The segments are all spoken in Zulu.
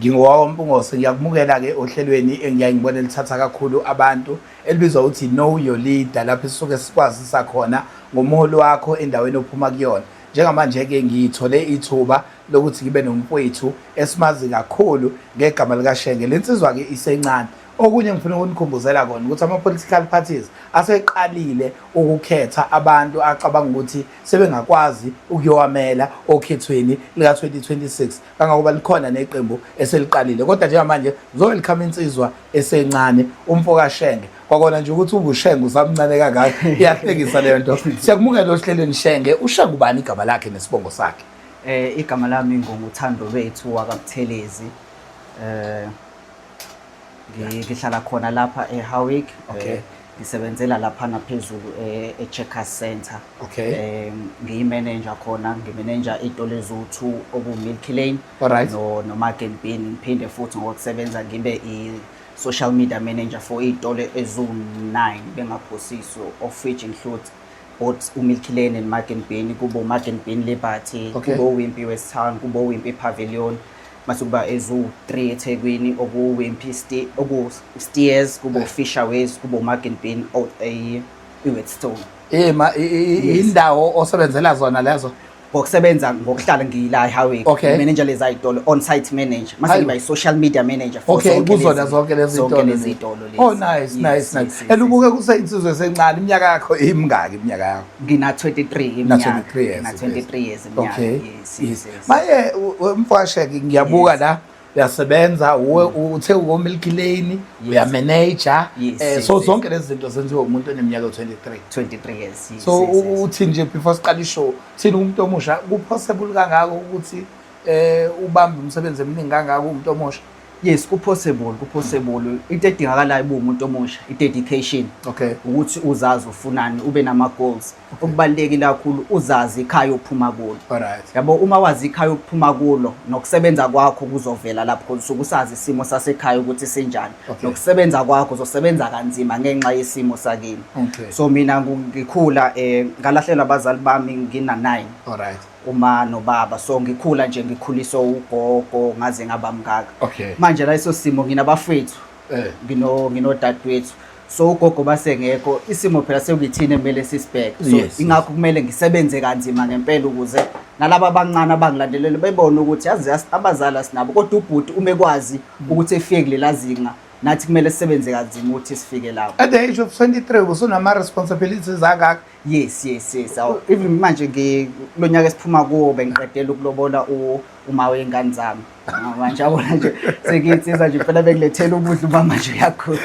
Ngingowawo Mpungose ngiyakumukela ke ohlelweni engiyaye ngibone lithatha kakhulu abantu elibizwa ukuthi know your leader lapho sisuke sikwazisa khona ngomholi wakho endaweni ophuma kuyona njengamanje ke ngiyithole ithuba lokuthi ngibe nomfowethu esimazi kakhulu ngegama likashenge lensizwa ke isencane okunye ngifuna ukunikhumbuzela kona ukuthi ama-political parties aseqalile ukukhetha abantu acabanga ukuthi sebengakwazi ukuyowamela okhethweni lika-2026 kangangoba likhona neqembu eseliqalile kodwa njengamanje kuzowelcome insizwa esencane umfokashenge kwakona nje ukuthi ungushenge usamncane kangaka iyahlekisa leyo nto siyakumukela ohlelweni shenge ushenge ubani igama lakhe nesibongo sakhe um igama lami ngunguthando lwethu wakabuthelezi um ngihlala khona lapha eHowick okay eh, ngisebenzela lapha naphezulu eh, eCheckers Center okay eh, ngiyimanager khona ngimanager itolo eziwu-2 oku-Milk Lane Alright. no noMargen Bean ngiphinde futhi ngokusebenza ngibe i-social media manager for iy'tolo eziwu-9 bengaphosiso of which includes both uMilk Lane and Margen Bean kubo Margen Bean Liberty Okay. kubo Wimpy West Town kubo Wimpy Pavilion Masukuba eziwu-3 eThekwini okuwu-Wimpy Ste okuwu-Steers kube uFisher Ways kube uMargin Bean out a- iWheatstone. Eh, ma- i- i- i- Yes. indawo osebenzela zona lezo Ngokusebenza ngokuhlala ngiyila eHighway Okay. manager lezayitolo on site manager mase Hayi. ngiba i-social media manager for okay zonke kuzona lezi- zonke lezi zonke zitolo. lezi zitolo lezi. oh nice Yes, nice yes, nice yes, and yes. ubuke kuseyinsizwe esencane iminyaka yakho imingaki iminyaka yakho Ngina 23 Na iminyaka. 23 years, Ngina yes. 23 years iminyaka. Okay. yes. yes, yes. maye mfasheke ngiyabuka yes. la uyasebenza uwe mm. uthe ukomilk lane uyamanager yes, eh, so zonke lezi zinto zenziwa umuntu oneminyaka 23 23 years yes, so uthi nje before siqala ishow thina umuntu omusha kupossible kangako ukuthi eh ubambe umsebenzi eminingi kangako umuntu omusha yes kupossible kupossible into edingakalayo uba umuntu omusha i-dedication okay ukuthi uzazi ufunani ube nama-goals okubalulekile kakhulu uzazi ikhaya ophuma kulo Alright. yabo uma wazi ikhaya okuphuma kulo nokusebenza kwakho kuzovela lapho khona usuke usazi isimo sasekhaya ukuthi sinjani Okay. nokusebenza kwakho uzosebenza kanzima ngenxa yesimo sakini Okay. so mina ngu- ngikhula um ngalahlelwa abazali bami ngina-nine Alright. uma nobaba so ngikhula nje ngikhuliswe ugogo ngaze ngaba mngaka Okay. manje la iso simo nginabafethu eh. ngino nginodadewethu so ugogo basengekho isimo phela sekuyithini emele sisibheke so yes, ingakho yes. kumele ngisebenze kanzima ngempela ukuze nalabo abancane abangilandelele bebone ukuthi yazi abazali asinabo kodwa ubhuti ume kwazi mm. ukuthi efike kulela zinga nathi kumele sisebenze kanzima ukuthi sifike lapho at the age of 23 usunama responsibilities akakho yes yes yes awu even manje ngi- kulo nyaka esiphuma kuwo bengiqedela ukulobola u- uma wey'ngane zami Ah, manje yabona nje sengiyinsizwa nje impela bekulethela ukudla uba manje uyakhula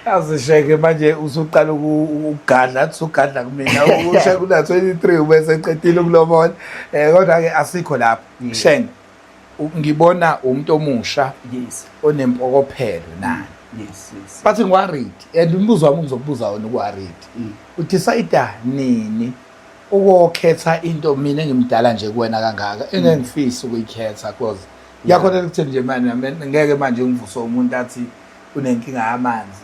azisheke manje usuqala uku- uku- ukugadla athi usugadla kumina usheke una-23 ubeseqedile ukulobola um kodwa-ke asikho lapho shenge ngibona umuntu omusha yes onempokophelo nani yes yes but ngiworried and umbuzo wami ngizokubuza wona ukuworried mm. udecide nini ukokhetha into mina ngimdala nje kuwena kangaka mm. engengifisi ukuyikhetha because yakhona ukuthi nje manje ngeke manje ngivuse umuntu athi unenkinga yamanzi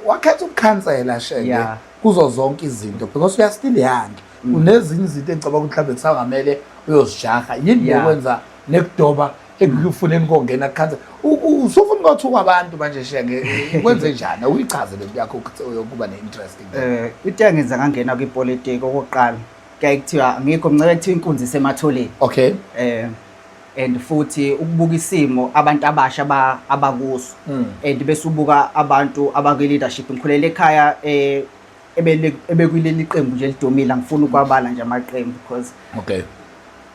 wakhetha ukukhansela sheke kuzo zonke izinto because uyastiliyange Mm. kunezinye izinto engicabanga ukuthi mhlawumbe kusangamele uyozijaha yini yokwenza nekudoba ekufuneni kongena kukhansa usufuna ukuthi kwabantu manje shenge kwenze njani uyichaze le nto yakho yokuba ne-interest um eh, into engenza ngangena kwipolitiki okokuqala kuyaye kuthiwa ngikho mncebe kuthiwa inkunzi isematholeni okay um and futhi ukubuka isimo abantu abasha abakuso mm. and bese ubuka abantu abakwi-leadership ngikhulele ekhaya um ebekuleli qembu nje elidumile angifuni ukwabala nje amaqembu because okay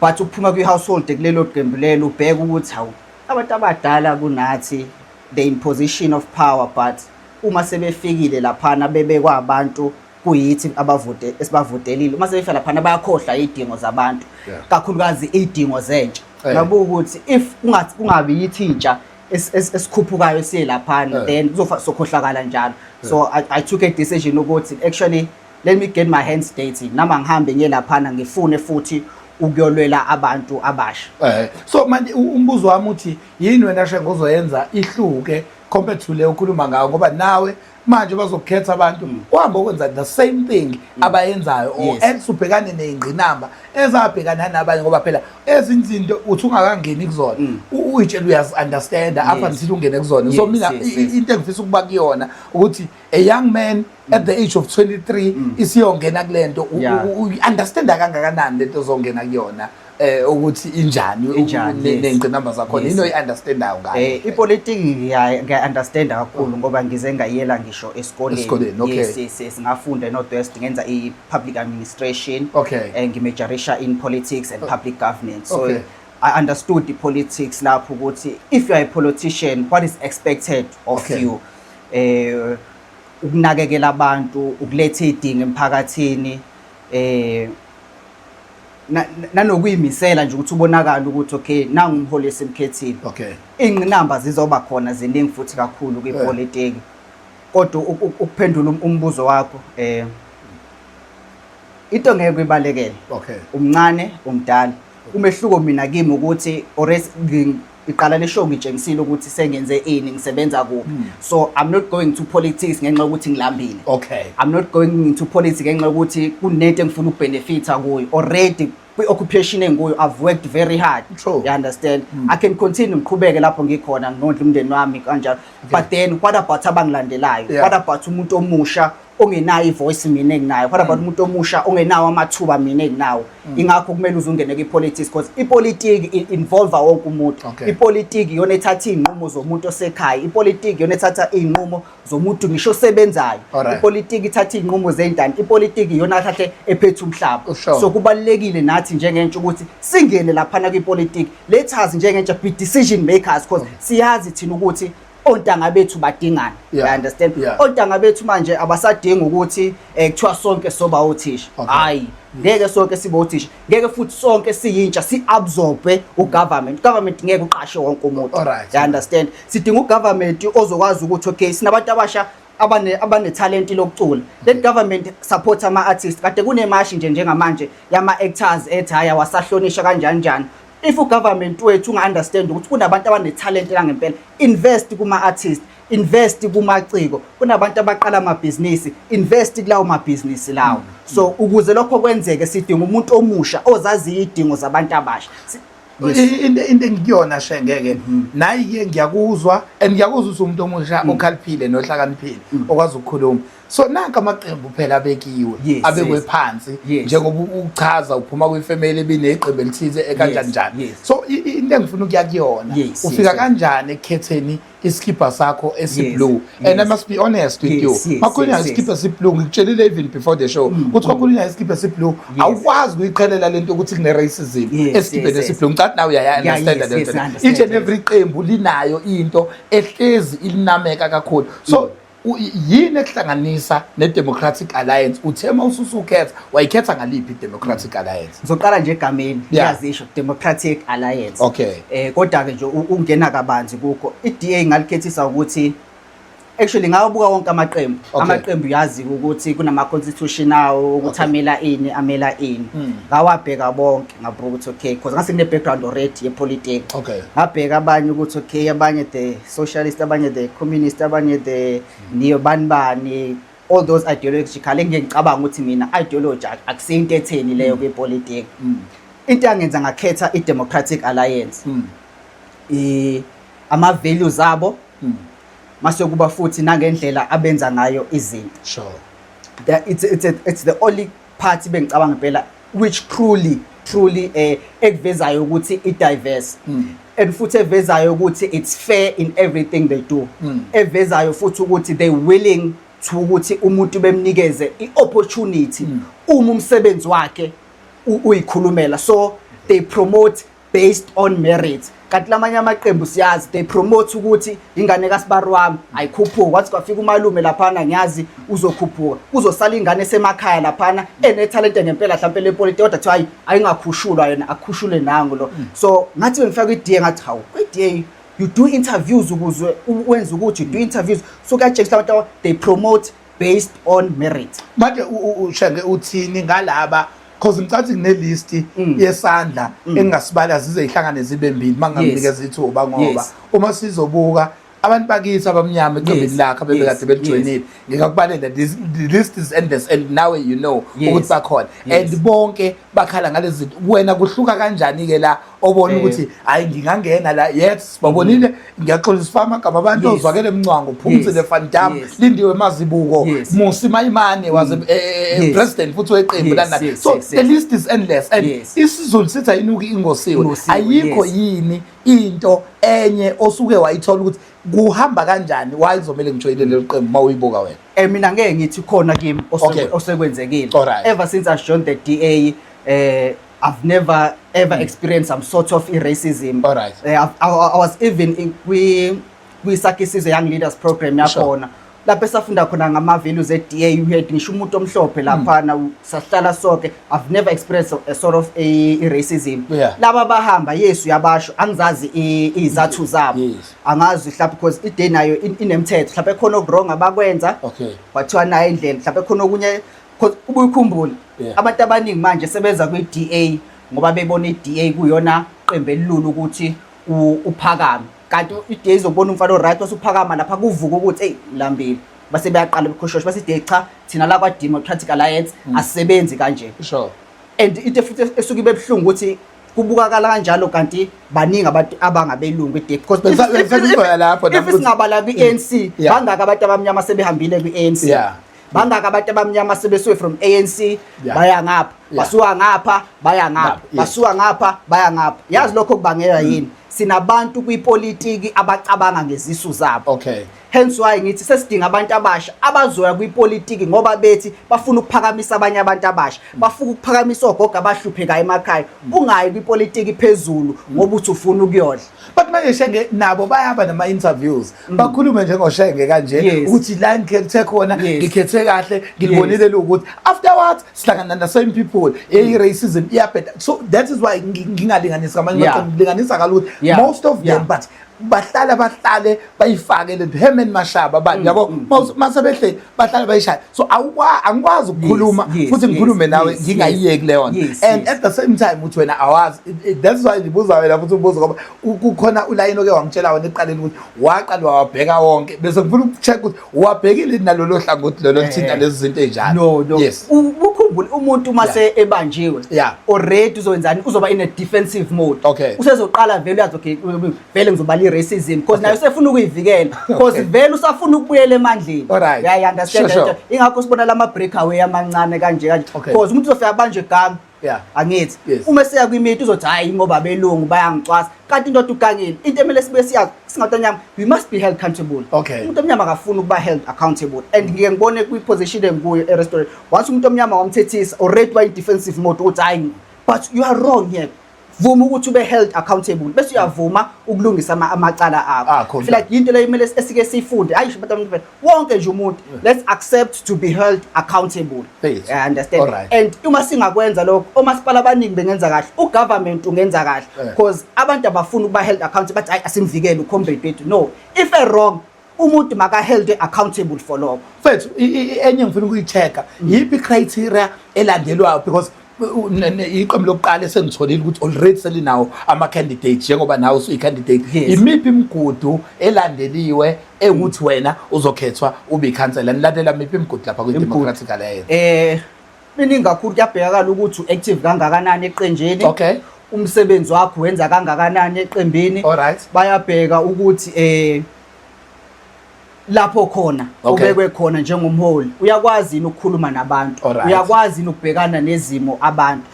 but ukuphuma kwi-household kulelo qembu lelo ubheke ukuthi hawu abantu abadala kunathi the in position of power but uma sebefikile laphana bebekwabantu kuyithi abavote esibavotelile uma sebefika laphana bayakhohlwa izidingo zabantu kakhulukazi izidingo zentsha ngabuka ukuthi if kungathi kungabi yithi intsha es- es- esikhuphukayo siye laphana Eh. then kuzofa sokhohlakala njalo so I, i took a decision ukuthi actually let me get my hands dirty nama ngihambe ngiye laphana ngifune futhi ukuyolwela abantu abasha Eh, so manje u- umbuzo wami uthi yini wena shengo ozoyenza ihluke compared to le okhuluma ngayo ngoba nawe manje bazokukhetha abantu mm. kuhambe okwenza the same thing mm. abayenzayo or else ubhekane neyingqinamba ezabhekana nabanye ngoba phela ezinye izinto uthi ungakangeni kuzona mm. uyitshela uyazi-understanda up until ungene kuzona so mina into engifisa ukuba kuyona ukuthi a young man at the age of 23 isiyongena kule nto uyi-understanda kangakanani lento ozongena kuyona eh ukuthi injani nengqinamba zakhona yini oyiunderstandayo ngayo eh ipolitiki ngiya understand kakhulu ngoba ngize ngayela ngisho esikoleni yes yes yes ngafunda eNorthwest ngenza i public administration okay eh, ngimajorisha in politics and public governance so okay. I understood the politics lapho ukuthi if you are a politician what is expected of okay. you eh ukunakekela abantu ukuletha idinga emphakathini eh na- na- nanokuyimisela nje ukuthi ubonakala ukuthi okay nangu umholi esimkhethile okay iy'ngqinamba zizoba khona ziningi futhi kakhulu kwipolitiki kodwa u- u- ukuphendula um- umbuzo wakho eh into ngeke uyibalekele okay umncane umdala umehluko mina kimi ukuthi ores ngi- iqala le show ngitshengisile ukuthi sengenze ini ngisebenza kuphi hmm. so i'm not going to politics ngenxa yokuthi ngilambile okay i'm not going into politics ngenxa yokuthi kunento engifuna ukubenefita kuyo already kwi-occupation engikuyo i've worked very hard True. you understand mm. i can continue ngiqhubeke lapho ngikhona nginondla umndeni wami kanjalo okay. but then what about abangilandelayo yeah. what about umuntu omusha ongenayo ivoice mina enginayo what about mm. umuntu omusha ongenawo amathuba mina enginawo mm. ingakho kumele uzungene kwipolitics because ipolitiki involve wonke umuntu ipolitiki yona ethatha izinqumo zomuntu osekhaya ipolitiki yona ethatha izinqumo zomuntu ngisho osebenzayo ipolitiki ithatha izinqumo zeyintana ipolitiki yona athathe ephethe umhlaba so kubalekile nathi njengentsha ukuthi singene lapha na kwipolitiki lethazi njengentsha be decision makers because siyazi thina ukuthi ontanga bethu badingana yeah. I understand yeah. ontanga bethu manje abasadingi ukuthi eh, kuthiwa sonke soba othisha hayi okay. ngeke sonke sibe othisha ngeke futhi sonke siyintsha si-absorbe ugovernment government ngeke uqashe wonke umuntu right. I understand sidinga ugovernment ozokwazi ukuthi okay sinabantu abasha abane abanethalenti lokucula let government support ama artists kade kunemashi nje njengamanje yama actors ethi haya wasahlonisha kanjani njani if u government wethu unga understand ukuthi kunabantu abanethalenti langempela invest kuma artists invest kumaciko kunabantu abaqala amabhizinisi invest kulawo mabhizinisi lawo mm. so ukuze lokho kwenzeke sidinga umuntu omusha ozaziyo idingo zabantu abasha into engikuyona shengeke mm. nayi ke ngiyakuzwa and ngiyakuzwa ukuthi umuntu omusha mm. okhaliphile nohlakaniphile mm. okwazi ukukhuluma so nanka amaqembu phela abekiwe abekwe phansi njengoba uchaza uphuma kwifamily ebineqembu elithize ekanjani njani so into engifuna ukuya kuyona ufika kanjani ekukhetheni isikibha sakho esiblue and i must be honest with you makhulu nayo isikibha esiblue ngikutshelile even before the show mm, ukuthi kwakhulu mm. nayo isikibha esiblue awukwazi ukuyiqhelela lento ukuthi kune-racism esikibheni esiblue ngicathi nawe uyayaunderstanda lento each and every qembu linayo into ehlezi ilinameka kakhulu so mm. yini ekuhlanganisa ne-democratic alliance uthe uma ususukhetha wayikhetha ngaliphi i-democratic mm. alliance ngizoqala nje egameni ngiyazisho yeah. democratic alliance okay eh kodwa-ke nje ungena kabanzi kukho i-da ngalikhethisa ukuthi actually ngawabuka wonke amaqembu okay. amaqembu yazi ukuthi kunama-constitution awo ukuthi okay. amela ini amela ini mm. ngawabheka bonke ngabhuka ukuthi okay because ngase ngine-background already yepolitiki okay. ngabheka abanye ukuthi okay abanye the socialist abanye the communist abanye the niyo bani bani all those ideological engike ngicabanga ukuthi mina ideology akusiyo into etheni leyo mm. kwipolitiki mm. into yangenza ngakhetha i-democratic alliance mm. i ama-values abo mase kuba futhi nangendlela abenza ngayo izinto sure. it's, it's, a, it's the only part bengicabanga impela which truly truly eh ekuvezayo ukuthi i diverse mm. and futhi evezayo ukuthi it's fair in everything they do mm. evezayo futhi ukuthi they willing to ukuthi umuntu bemnikeze i opportunity mm. uma umsebenzi wakhe uyikhulumela so they promote based on merit kanti lamanye amaqembu siyazi they promote ukuthi ingane kasibari wami ayikhuphuka kwathi kwafika umalume laphana ngiyazi uzokhuphuka kuzosala ingane esemakhaya laphana enethalente ngempela mhlawumpe lepolitiki kodwa kuthiwa hayi ayingakhushulwa yena akhushule nangu lo hmm. so ngathi bengifika kwi-da ngathi hawu kwi-da you do interviews ukuze wenze ukuthi you do interviews so kuyatshengisa abantu they promote based on merit manje ushenge uthini ngalaba because ngicatha nginelist mm. yesandla mm. engingasibala zize ihlangane zibe mbili mangamnikeza ithuba ngoba uma sizobuka abantu bakithi abamnyama eqembini lakhe abebekade belijoyinile ngikakubalela this list is endless and now you know ukuthi bakhona and bonke bakhala ngalezi wena kuhluka kanjani ke la obona ukuthi hayi ngingangena la yes babonile mm. ngiyaxolisa ifama gama abantu ozwakele mncwango phumzile van dam lindiwe mazibuko musi mayimane mm. was eh, eh, eh, president futhi weqembu lana so the list is endless and isizulu sithi ayinuki ingosiwe ayikho yini into enye osuke wayithola ukuthi kuhamba kanjani why kuzomele ngijoyine leli qembu uma uyibuka wena eh mina ngeke ngithi khona kimi osekwenzekile ever since i joined the DA eh I've never ever mm. experienced some sort of racism. All right. Uh, eh, I, I, I was even in kwi kwi sakisize young leaders program yakhona. Sure. lapho esafunda khona ngama-values e-da you had ngisho umuntu omhlophe hmm. laphana sahlala soke i've never experienced a sort of i-racism yeah. laba bahamba yesu yabasho angizazi iy'zathu zabo yes. angazi mhlawumbe because ide nayo inemthetho mhlawumbe khona okuwrong abakwenza okay kwathiwa nayo indlela mhlawumbe khona okunye Cause ubuye ukhumbule Yeah. abantu abaningi manje sebeza kwi-DA ngoba bebona i-DA kuyona qembu elilula ukuthi u- uphakame. Kanti i-DA izobona umfana o-right osuphakama lapha kuvuka ukuthi eyi lambile. Base beyaqala ukukhoshosha base i-DA cha thina la kwa-Democratic Alliance asebenzi kanje. Sure. and into futhi esuke ibe buhlungu ukuthi kubukakala kanjalo kanti baningi abantu abangabelungu e-DA because Bese- if- bese if- kuzoya lapho, if- if lapho. singabala kwi-ANC Yeah. bangaka abantu abamnyama sebehambile kwi-ANC Yeah. bangaki abantu abamnyama sebesuke from anc yeah. baya ngapha yeah. basuka ngapha baya ngapha yeah. basuka ngapha baya ngapha yazi lokho kubangela mm. yini sinabantu kwipolitiki abacabanga ngezisu zabo okay hence why ngithi sesidinga abantu abasha abazoya kwipolitiki ngoba bethi bafuna ukuphakamisa abanye abantu abasha mm. bafuna ukuphakamisa ogogo abahluphekayo emakhaya mm. ungayi kwipolitiki phezulu ngoba uthi ufuna ukuyodla but manje shenge nabo bayaba nama interviews mm. bakhulume njengoshenge kanje Yes. ukuthi la ngikhethe khona Yes. ngikhethe kahle ngilibonile lokuthi afterwards sihlangana na same people eyi racism iyabheda so that is why ngi- ngingalinganisi kamanye Yeah. maqembu ngilinganisa kalula Yeah. most of Yeah. them but bahlala bahlale bayifake lento Herman Mashaba bani mm, yabo mm, mm. mase behle bahlale bayishaya so awukwa angikwazi ukukhuluma futhi ngikhulume nawe ngingayiyeki leyo nto and at the same time uthi wena awazi that's why ngibuza wena futhi ubuza ngoba kukhona ulayini oke wangitshela wena eqaleni ukuthi waqala wabheka wonke bese ngifuna ukucheck ukuthi wabhekile nalolo hlangothi lolo eh, lithinta lezi zinto ezinjalo no no yes ukukhumbula umuntu uma se ebanjiwe already uzoyenzani uzoba in a defensive mode okay usezoqala vele uyazi okay vele ngizobala i racism because nayo sefuna ukuyivikela because vele usafuna ukubuyela emandleni yeah i understand ingakho sibona lama breakaway amancane kanje kanje because umuntu uzofika banje gama Yeah. angithi Yes. uma seya kwimiti uzothi hayi ingoba belungu bayangicwasa kanti into odukangile into emele sibe siyazi singabantu anyama we must be held accountable Okay. umuntu omnyama akafuni ukuba held accountable and ngike ngibone kwi-position engikuyo e-restaurant once umuntu omnyama wamthethisa already wayi-defensive mode ukuthi hayi but you are wrong here vuma ukuthi ube held accountable bese uyavuma ukulungisa amacala akho feel like into leyo kumele esike siyifunde hayi but umuntu wonke nje umuntu let's accept to be held accountable i understand right. and uma singakwenza lokho omasipala abaningi bengenza kahle ugovernment ungenza kahle because abantu abafuni ukuba held accountable bathi ayi asimvikele ucomrade wethu no if a wrong umuntu makaheldwe accountable for lokho mfethu enye ngifuna ukuyitheka yiphi criteria elandelwayo because iqembu lokuqala esengitholile ukuthi already selinawo ama-candidate njengoba nawe usuyi-candidate imiphi imigudu elandeliwe ewukuthi wena uzokhethwa ube ikhansela nilandela miphi imigudu lapha kwi-democratic alliance um eh, Miningi kakhulu kuyabhekakala ukuthi u-active kangakanani eqenjeni. Okay. Umsebenzi wakho wenza kangakanani eqembini. Alright. Bayabheka ukuthi eh lapho khona ubekwe khona njengomholi uyakwazi yini ukukhuluma nabantu uyakwazi yini ukubhekana nezimo abantu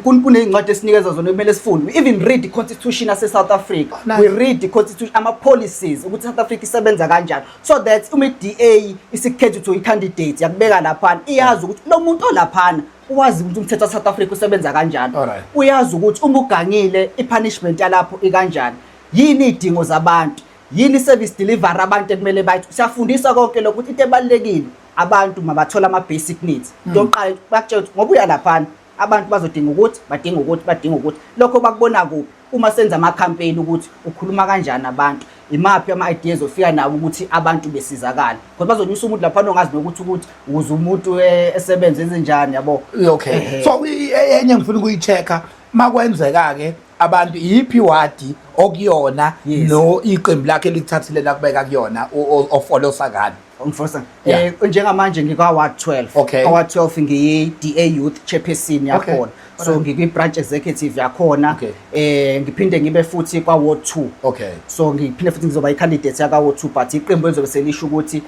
kunezincwadi esinikeza zona kumele sifunde even read the constitution ase South Africa we read the constitution ama policies ukuthi South Africa isebenza kanjani so that uma i-DA isikhetha ukuthi uyi-candidate yakubeka laphana iyazi ukuthi lo muntu olaphana uwazi ukuthi umthetho waSouth Africa usebenza kanjani uyazi ukuthi uma ugangile i-punishment yalapho ikanjani yini idingo zabantu yini service delivery abantu ekumele bayithi siyafundisa konke lokho ukuthi into ebalekile abantu mabathola ama basic needs hmm. into oqala bakutshela ukuthi ngoba uya laphana abantu bazodinga ukuthi badinga ukuthi badinga ukuthi lokho bakubona kuphi Uma senza ama campaign ukuthi ukhuluma kanjani abantu, imaphi ama ideas ofika nawo ukuthi abantu besizakala. Because bazonyusa umuntu lapha ongazi nokuthi ukuthi uze umuntu eh, esebenze enzenjani yabo. Okay. Ehhe. So i- i- enye ngifuna ukuyi-check-a makwenzeka-ke abantu iyiphi iwadi okuyona Yes. no iqembu lakhe likuthathile lakubeka kuyona o- o- ofolosa ngani. Umfosa. Yeah. Eh njengamanje ngikwa ward 12. Okay. Kwa 12 ngiyi DA Youth Chairperson yakhona. So ngikwi branch executive yakhona. Okay. Eh ngiphinde ngibe futhi kwa ward 2. Okay. So ngiphinde futhi ngizoba i candidate yaka ward 2 but iqembu elizobe selisho ukuthi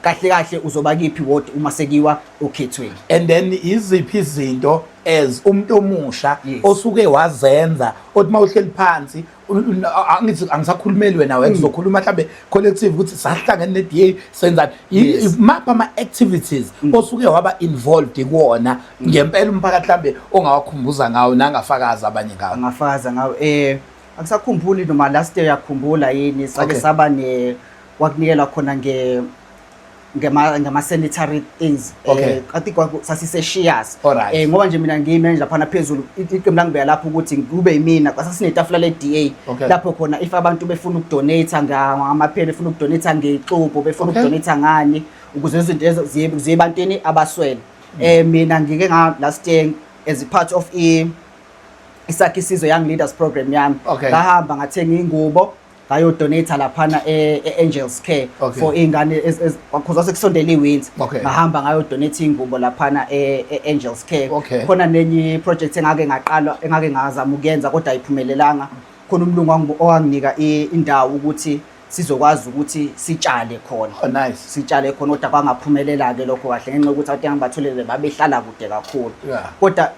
kahle kahle uzoba kiphi ward uma sekiwa okhethweni and then iziphi izinto as umuntu omusha osuke wazenza othi mawuhleli phansi angithi angisakhulumeli wena wena ngizokhuluma mhlambe collective ukuthi sahlangene ne DA senzani mapha ama activities mm. osuke waba involved kuona mm. ngempela umphakathi mhlambe ongawakhumbuza ngawo nangafakaza abanye ngawo angafakaza ngawo eh akusakhumbuli noma last year yakhumbula yini sake saba ne wakunikelwa khona nge ngema ngema sanitary things eh, okay. I think sasise shares right. eh ngoba nje mina ngiyi manager phana phezulu iqembu langibeya lapho ukuthi kube yimina kwasasine tafula le DA okay. lapho khona if abantu befuna ukudonate ngamaphela befuna ukudonate ngexubo befuna okay. ukudonate ngani ukuze izinto ziye ziye bantwini abaswele mm. eh mina ngike nga last year as a part of i isakhe isizwe young leaders program yami ngahamba okay. ngathenga ingubo ngayodonate laphana e-angels e, care okay. for iy'ngane because wase kusondela i-winter okay. ngahamba ngayodonate iy'ngubo laphana e-angels e, care okay. khona nenye i-project engake ngaqalwa engake ngazama ukuyenza kodwa ayiphumelelanga khona umlungu owanginika indawo ukuthi sizokwazi ukuthi sitshale khona oh, nice. sitshale khona kodwa kwangaphumelela-ke lokho kahle ngenxa yokuthi abantu engibatholele babehlala kude kakhulu yeah. kodwa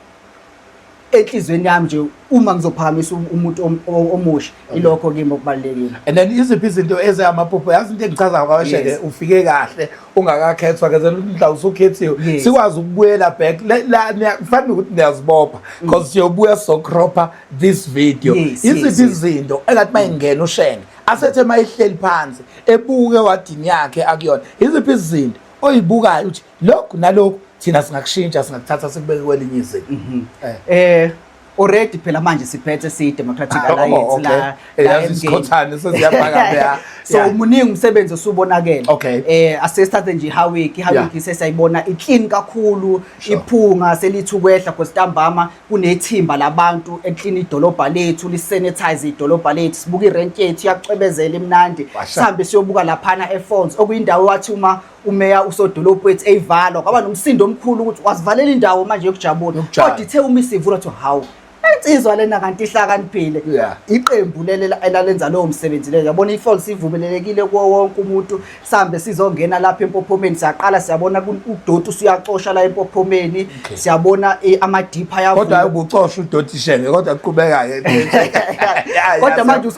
enhlizweni yami nje uma ngizophakamisa um-, umuntu omusha ilokho kimi okubalekile and then iziphi izinto ezeyamaphupho yazi into engichazayo kawesheke ufike kahle ungakakhethwa ke mhla usukhethiwe sikwazi ukubuyela back la kufanele ukuthi niyazibopha mm. because siyobuya so cropper this video iziphi izinto engathi mayingena ushenge asethe mayihleli phansi ebuke wadini yakhe akuyona iziphi izinto oyibukayo uthi lokhu nalokhu thina singakushintsha singakuthatha sikubeke kwelinye izinga mhm. eh. eh already phela manje siphethe si democratic ah, alliance oh, la eh, la esikhothane sesiyabhaka la so muningi umsebenzi osubonakele eh asesithathe nje how week how week sesayibona i clean kakhulu iphunga selithi ukwehla because ntambama kunethimba labantu e clean idolobha lethu li sanitize idolobha lethu sibuka i rent yethu yacwebezela imnandi sihambe siyobuka laphana e phones okuyindawo wathi uma umeya usodolophu ethi eyivalwa kwaba nomsindo omkhulu ukuthi wasivalela indawo manje yokujabula kodwa ithe uma isivula kuthiwa hawu insizwa lena kanti ihlakaniphile iqembu elalenza lowo msebenzi leyo yabona ifol sivumelelekile kuwo wonke umuntu sihambe sizongena lapha empophomeni siyaqala siyabona udoti usuyacosha la empophomeni siyabona eh, amadipha ayavuka kodwa ubucosha udoti shenge kodwa kuqhubeka ke kodwa manje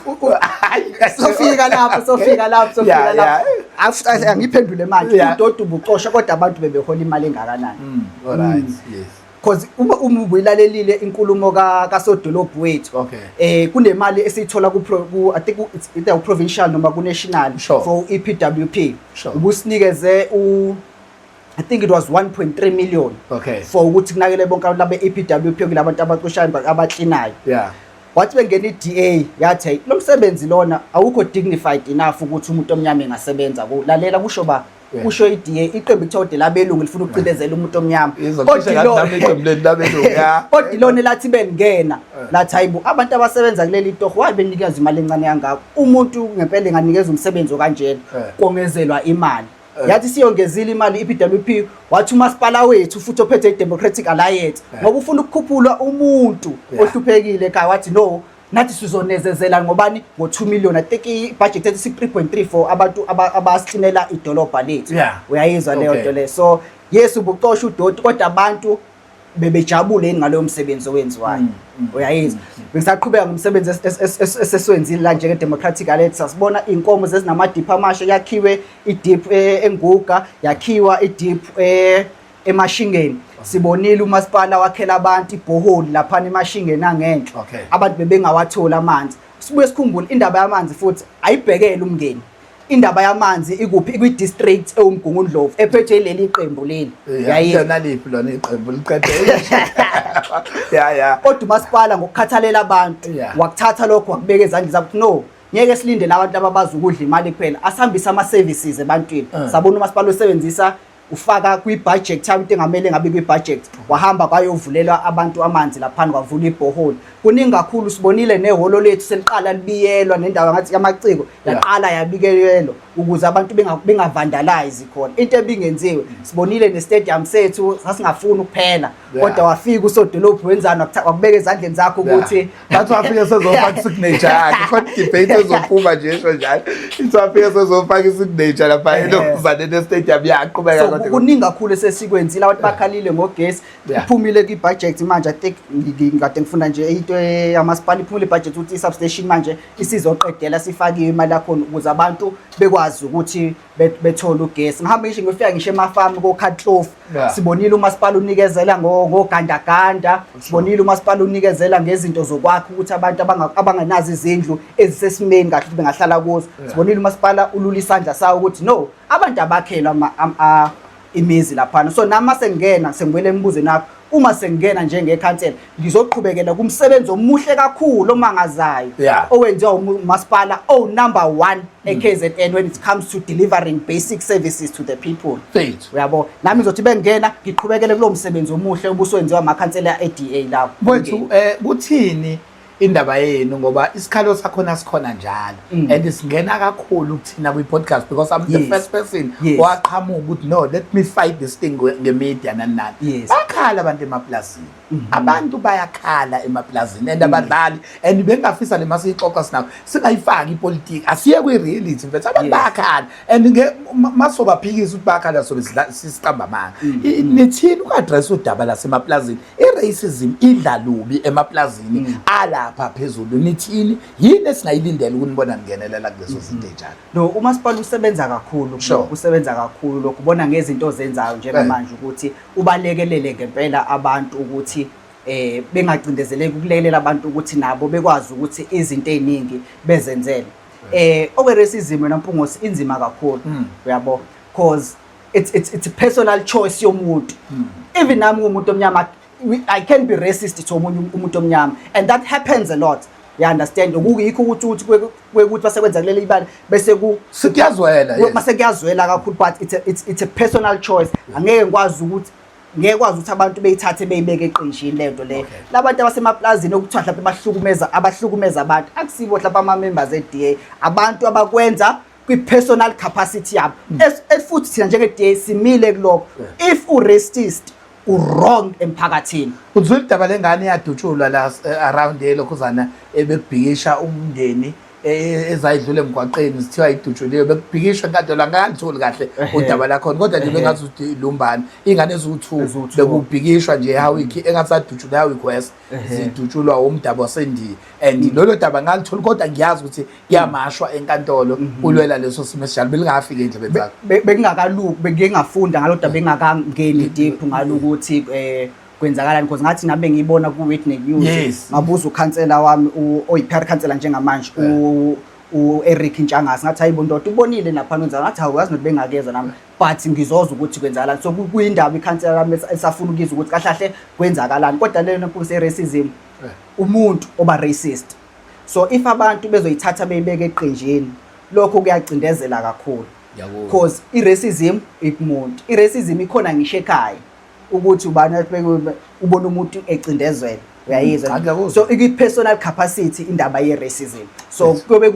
sofika lapho sofika lapho sofika lapho angiphendule manje udoti ubucosha kodwa abantu bebehola imali engakanani mm, all right mm. yes because uma uma ubuyilalelile inkulumo ka kasodolobhu wethu okay. eh kunemali esiyithola ku, ku I think it's either u provincial noma ku national sure. for EPWP sure. ubusinikeze u I think it was 1.3 million okay for ukuthi kunakele bonke abantu abe EPWP kulabantu abacushayo abaklinayo yeah wathi bengena i-DA yathi hey lo msebenzi lona awukho dignified enough ukuthi umuntu omnyama engasebenza lalela kusho ba kusho i-DA iqembu kuthiwa de labelungu lifuna ukucindezela umuntu omnyama kodwa ilona elathi bengena eh. lathi hayi bo abantu abasebenza kuleli torho waye benikeza imali encane yangako umuntu ngempela enganikeza umsebenzi okanjena eh. kongezelwa imali Eh. yathi siyongezile imali i-PWP wathi umasipala wethu futhi ophethe i-Democratic Alliance eh. ngoba ufuna ukukhuphula umuntu ohluphekile ekhaya wathi no nathi sizonezezela ngobani ngo-2 million i think i-budget ethi si-3.3 for abantu abasixinela idolobha lethu uyayizwa leyo nto leyo so yes ubucosha udoti kodwa abantu bebejabule yini ngaloyo msebenzi owenziwayo mm, mm, uyayizwa mm, bengisaqhubeka ngomsebenzi esesiwenzile la njenge-democratic alert sasibona iy'nkomo zezinamadiphu amasha yakhiwe idiphu e, enguga yakhiwa idiphu e, emashingeni sibonile umasipala wakhela abantu ibhoholi laphana emashingeni angenhla abantu bebengawatholi amanzi sibuye sikhumbule indaba yamanzi futhi ayibhekele umngeni indaba yamanzi ikuphi ikwi-district ewumgungundlovu ephethwe leli qembu leli yayena liphi lona iqembu liqede ya ya kodwa umasipala ngokukhathalela abantu wakuthatha lokho wakubeka ezandleni zakuthi no ngeke silindele abantu ababazi ukudla imali kuphela asihambise ama-services ebantwini eh. sabona umasipala usebenzisa ufaka kwi-budget time into engamele ngabe kwi-budget wahamba kwayovulelwa abantu amanzi laphana kwavula ibhoholi kuningi kakhulu sibonile nehholo lethu seliqala libiyelwa nendawo ngathi yamaciko yaqala yabikelelwa ukuze abantu bengavandalayizi khona into ebingenziwe sibonile ne-stadium sethu sasingafuni ukuphela kodwa wafika usodolophu wenzani wakubeka ezandleni zakho ukuthi bathi wafike sezofaka isignature yakhe khona idebate ezophuma nje esho njalo ithi wafike sezofaka isignature lapha enokuzane nestadium yaqhubeka kodwa kuningi kakhulu esesikwenzile abantu bakhalile ngogesi iphumile kwi-budget manje i think ngikade ngifunda nje into yamasipala iphumile i-budget ukuthi i-substation manje isizoqedela sifakiwe imali yakhona ukuze abantu bekwazi ukuthi bet- bethole ugesi ngihambe ngisho ngifika ngisho emafamu kokhatlofu Yeah. sibonile umasipala unikezela ngo- ngogandaganda sibonile umasipala unikezela ngezinto zokwakha ukuthi abantu abanga- abangenazo izindlu ezisesimeni kahle ukuthi bengahlala kuzo Yeah. sibonile umasipala ulula isandla sawo ukuthi no abantu abakhelwa ama- am- a- imizi laphana so nami masengena sengibuyele emibuzweni wakho uma sengena njengekhansela ngizoqhubekela kumsebenzi omuhle kakhulu omangazayo yeah. owenziwa umasipala o number 1 mm. eKZN when it comes to delivering basic services to the people uyabo nami ngizothi bengena ngiqhubekele kulomsebenzi omuhle obuswenziwa amakhansela eDA lawo mfethu eh kuthini indaba yenu ngoba isikhalo sakhona sikhona njalo mm. and singena kakhulu kuthina kwi-podcast because I'm the yes. first person yes. waqhamuka ukuthi no let me fight this thing nge-media nani nani yes. bakhala abantu emapulazini mm -hmm. abantu bayakhala emapulazini and mm. abadlali and bengafisa le masiyixoxa sinabo singayifaki ipolitiki asiye kwi-reality mfethu abantu yes. bayakhala and masobaphikisa ukuthi bakhala sobe sisiqamba amanga mm -hmm. nithini uku-adressa udaba lasemapulazini I-racism idla lubi emaplazini mm. alapha phezulu nithini yini esingayilindela ukunibona ningenelela kulezo mm-hmm. zinto enjalo no umasipala usebenza kakhulu usebenza kakhulu lokhu ubona ngezinto ozenzayo njengamanje eh. ukuthi ubalekelele ngempela abantu ukuthi eh bengacindezeleki ukulekelela abantu ukuthi nabo bekwazi ukuthi izinto eziningi bezenzele eh okwe racism wena mpungosi inzima kakhulu mm. uyabo cause it's it's it's a personal choice yomuntu hmm. even nami ngumuntu omnyama i can be racist to omunye um-, umuntu omnyama and that happens a lot you understand ukuyikho ukuthi ukuthi kwekuthi base kwenza kuleli ibali bese ku sikuyazwela yes base kuyazwela kakhulu but it's a, it's it's a personal choice angeke ngikwazi ukuthi ngeke kwazi ukuthi abantu beyithathe beyibeke eqinjini lento le labantu abasemaplazini okuthiwa mhlawumbe bahlukumeza abahlukumeza abantu akusibo mhlawumbe ama members e DA abantu abakwenza kwi-personal capacity yabo mm. futhi thina njenge-da simile kulokho if u-racist u-wrong emphakathini uzwile idaba lengane yadutshulwa la eh, around elokhuzana ebekubhikisha umndeni e, e, ezayidlula emgwaqeni zithiwa idutshuliwe bekubhikishwa enkantolo angangitholi kahle udaba lakhona kodwa nje bengathi lumbani ingane eziwu-two bekubhikishwa nje ehawiki engathi sadutshulwe ehawiki west zidutshulwa wumdabu wasendiya and mm. lolo daba ngalitholi kodwa ngiyazi ukuthi kuyamashwa mm. enkantolo mm-hmm. ulwela leso simo esinjalo belingafiki endlebeni zakho bekungakaluki bengike ngafunda ngalo daba bengakangeni mm. deep ngalo ukuthi um eh, kwenzakalani because ngathi nabe ngiyibona ku-witney news ngabuza ukhansela wami oyi-pr khansela njengamanje u-eric ntshangasi ngathi hayibo ndoda ubonile naphana wenzala ngathi hawu yazi nothi bengakeza nami but ngizozwa ukuthi kwenzakalani so kuyindaba ikhansela lami elisafuna ukizwa ukuthi kahle kahle kwenzakalani kodwa lena nkosi racism eh. umuntu oba racist so if abantu bezoyithatha beyibeke eqenjini lokho kuyacindezela kakhulu because i-racism ikumuntu i-racism ikhona ngisho ekhaya ukuthi ubani ubona umuntu ecindezwela uyayizwa mm, so ikwi-personal capacity indaba ye-racism so kuyobe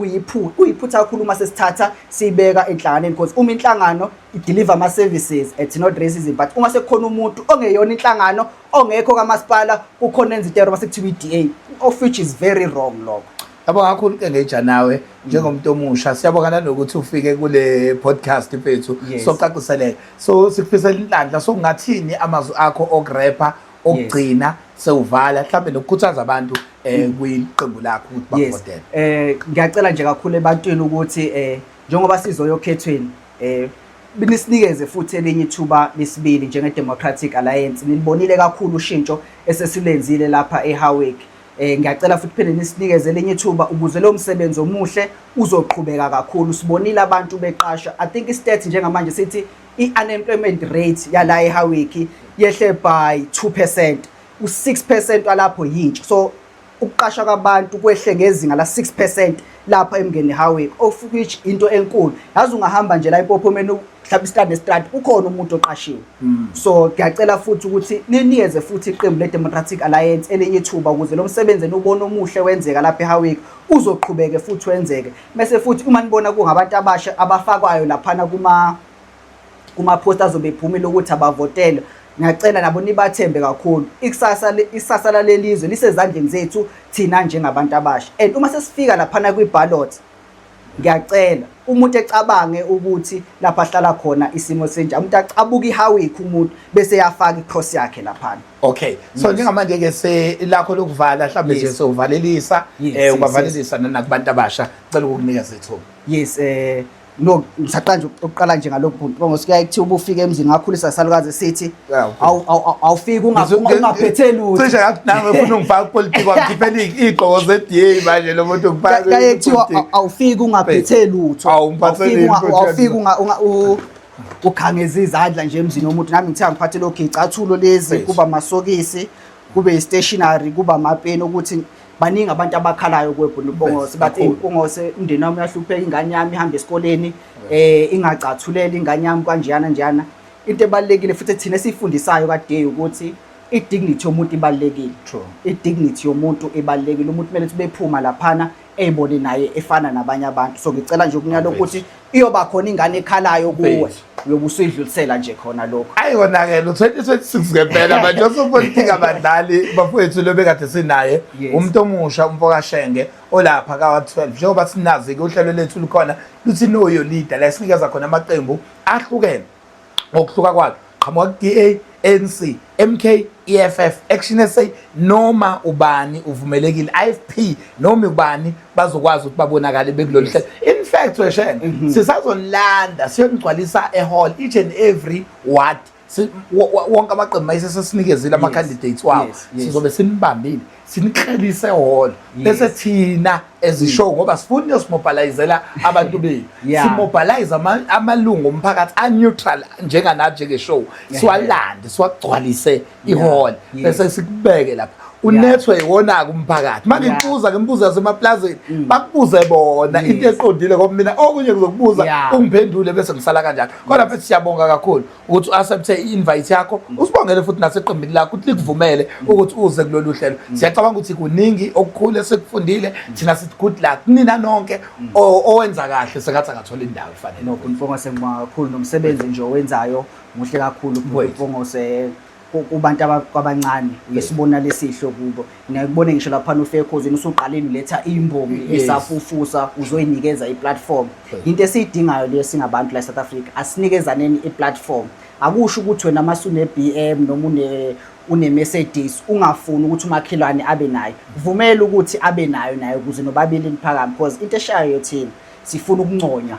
kuyiphutha kakhulu uma sesithatha siyibeka enhlanganeni because uma inhlangano ideliver ama-services it's not racism but uma sekukhona umuntu ongeyona inhlangano ongekho kamasipala kukhona enza itero uma sekuthiwa i-d a of which is very wrong lokho Yabo kakhulu ke ngeja nawe njengomuntu omusha siyabonga nanokuthi ufike kule podcast mfethu Yes. socaciseleka so sikufisela inhlanhla so ngathini amazwi akho okurepha okugcina sewuvala mhlawumbe nokukhuthaza abantu um kwiqembu lakho ukuthi Mm. yes bakuvotele eh ngiyacela nje kakhulu ebantwini ukuthi eh njengoba sizoya okhethweni eh binisikeze futhi elinye ithuba lesibili njenge Democratic Alliance nilibonile kakhulu ushintsho esesilenzile lapha eHowick Eh ngiyacela futhi phinde nisinikeze lenye ithuba ukuze lo msebenzi omuhle uzoqhubeka kakhulu. Sibonile abantu beqasha. I think i-stats njengamanje sithi i-unemployment rate yala eHawiki yehle by 2%. U6% walapho yintsha. So ukuqasha kwabantu kwehle ngezinga la 6% lapha eMngeni Highway of which into enkulu. Yazi ungahamba nje la eMpophomeni mhlawumbe istrand nestrand ukhona umuntu oqashiwe hmm. so ngiyacela futhi ukuthi niniyeze futhi iqembu le-democratic alliance elinye ithuba ukuze lo msebenzi eniwubona omuhle wenzeka lapha ehawiki uzoqhubeke futhi wenzeke mese futhi uma nibona kungabantu abasha abafakwayo laphana kuma kuma-post azobe ephumile ukuthi abavotelwe ngiyacela nabo nibathembe kakhulu ikusasa isasa lalelizwe lisezandleni zethu thina njengabantu abasha and uma sesifika laphana kwi-ballot ngiyacela umuntu ecabange ukuthi lapha ahlala khona isimo senjani umuntu acabuka ihawikho umuntu bese yafaka i-cross yakhe laphana okay so njengamanje ke selakho lokuvala mhlawumbe nje sovalelisa eh ubavalelisa nana kubantu abasha cela ukukunikeza ithuba yes eh no ngisaqala nje ukuqala nje ngalokhu ngoba ngosikuya ekuthiwa ubufika emzini ngakhulisa salukazi sithi awufiki ungaphethe lutho cishe nami ufuna ungifaka kupolitiki wangikhiphela iy'gqoko ze-da manje lo muntu ngifakaye kuthiwa awufiki ungaphethe lutho awufiki ukhangeza izandla nje emzini womuntu nami ngithiya ngiphathe lo gicathulo lezi kuba amasokisi kube i-stationary kuba amapeni ukuthi baningi abantu abakhalayo kwebhunu bongose bathi bongose umndeni wami uyahlupheka ingane yami ihamba esikoleni eh ingacathulela ingane yami kanjeyana njeyana into ebalekile futhi thina sifundisayo kade ukuthi i dignity yomuntu ibalekile true i dignity yomuntu ibalekile umuntu kumele sibephuma laphana eyibone naye efana nabanye abantu so ngicela nje ukunyala ukuthi iyoba khona ingane ekhalayo kuwe uyobe usuyidlulisela nje khona lokho ayi kona ke lo 2026 ngempela manje osopolitiki abadlali bafowethu lo bekade sinaye umuntu omusha umfo kaShenge olapha ka 12 njengoba sinazi ke uhlelo lethu lukhona luthi noyo leader la sinikeza khona amaqembu ahlukene ngokuhluka kwakhe qhamuka ku-DA ANC MK EFF Action SA noma ubani uvumelekile IFP noma ubani bazokwazi ukuthi babonakale bekulolu hlelo in fact weshena mhm. sisazonilanda siyonigcwalisa ehall each and every ward wonke amaqembu mayesesinikezile ama candidates wawo sizobe sinibambile siniklelise ehholo bese thina ezishow mm. ngoba sifuna uyosimobilizela abantu bethu simobilize amalungu omphakathi aneutral njenganathi njengeshow siwalande siwagcwalise ihholo bese sikubeke lapha unethwe iwona-ke umphakathi uma ngikubuza ngimbuza yasemaplazini mm. bakubuze bona into eqondile ngoba mina okunye kuzokubuza ungiphendule bese ngisala kanjalo kodwa mfethu siyabonga kakhulu ukuthi u-accepte i-invite yakho mm. usibongele futhi naseqembini lakho ukuthi likuvumele mm. ukuthi uze kulolu hlelo mm. siyacabanga ukuthi kuningi okukhulu esikufundile thina sithi good luck nina nonke owenza kahle sengathi angathola indawo efanele nokho mfongose ngibonga kakhulu nomsebenzi nje owenzayo muhle kakhulu mfongose kubantu kwabancane uyisibona lesihle kubo nakubone ngisho lapha nofekhozini usuqalile uletha imbongi esafufusa uzoyinikeza iplatform into esiyidingayo leyo singabantu la South Africa asinikezaneni iplatform akusho ukuthi wena uma sune BM noma une une Mercedes ungafuni ukuthi umakhelwane abe nayo vumela ukuthi abe nayo nayo ukuze nobabili niphakame because into eshayo yothini sifuna ukunconywa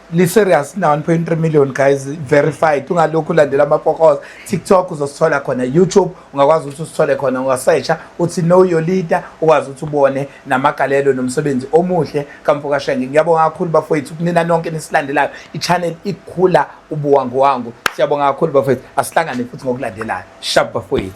li serious na 1.3 million guys verified ungalokhu ulandela amapokoza TikTok uzosithola khona YouTube ungakwazi ukuthi usithole khona ungasesha uthi know your leader ukwazi ukuthi ubone namagalelo nomsebenzi omuhle kamfoka Shenge ngiyabonga kakhulu bafowethu kunina nonke nisilandelayo ichannel ikhula ubuwangu wangu siyabonga kakhulu bafowethu asihlangane futhi ngokulandelayo shab bafowethu